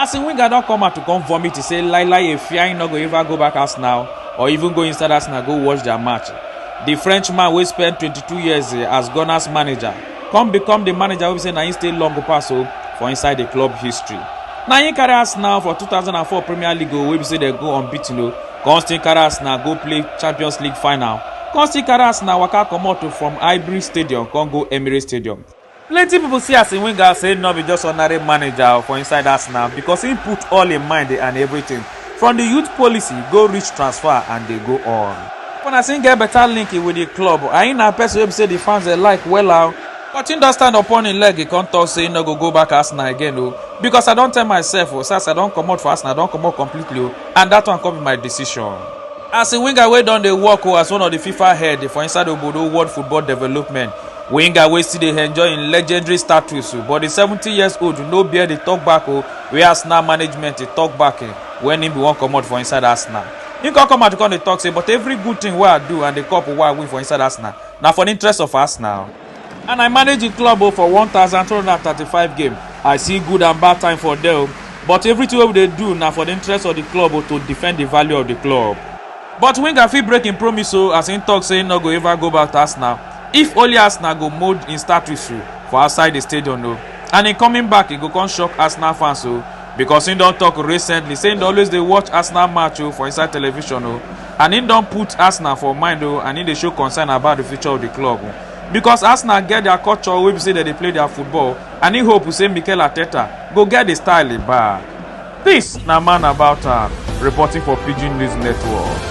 Arsene Wenger don come out to come vomit to say Lai Lai Efiai no go ever go back Arsenal or even go inside Arsenal go watch their match. The Frenchman wey spend 22 years eh, as Gunners manager come become the manager wey be say na him stay long pass o for inside the club history. Na him carry Arsenal for 2004 Premier League o wey be say dem go unbeaten o come still carry Arsenal go play Champions League final come still carry Arsenal waka comot o from Highbury Stadium come go Emirates Stadium. Plenty pipo see Arsene Wenger say nor be just ordinary manager for inside Arsenal because im put all im mind and everything from di youth policy go reach transfer and dey go on. Pipo na say im get better link with di club and im na person wey be say di fans dey like wella o. But im don stand upon im leg come talk say im nor go go back Arsenal again o because I don tell myself o say as I don comot for Arsenal I don comot completely o and dat one come be my decision. Arsene Wenger wey don dey work o as one of di Fifa head for inside obodo world football development winger wey still dey enjoy im legendary status but di seventeen years old no bear di talk back o wey arsenal management dey talk back wen im bin wan comot for inside arsenal im come come out come dey talk say but every good thing wey i do and di cup wey i win for inside arsenal na for di interest of arsenal and i manage di club for one thousand two hundred and thirty-five game i see good and bad time for there but everything wey we dey do na for di interest of di club to defend di value of di club But winger fit break im promise o as im tok say im no go ever go back to Arsenal if only Arsenal go mould im status o for outside di stadion o and im coming back e go come shock Arsenal fans o because im don tok recently say im dey always dey watch Arsenal match o for inside television o and im don put Arsenal for mind o and im dey show concern about di future of di club o because Arsenal get dia culture wey be say dem dey play dia football and im hope say Mikel Arteta go get di style back. This na man about am reporting for Pidgin News Network.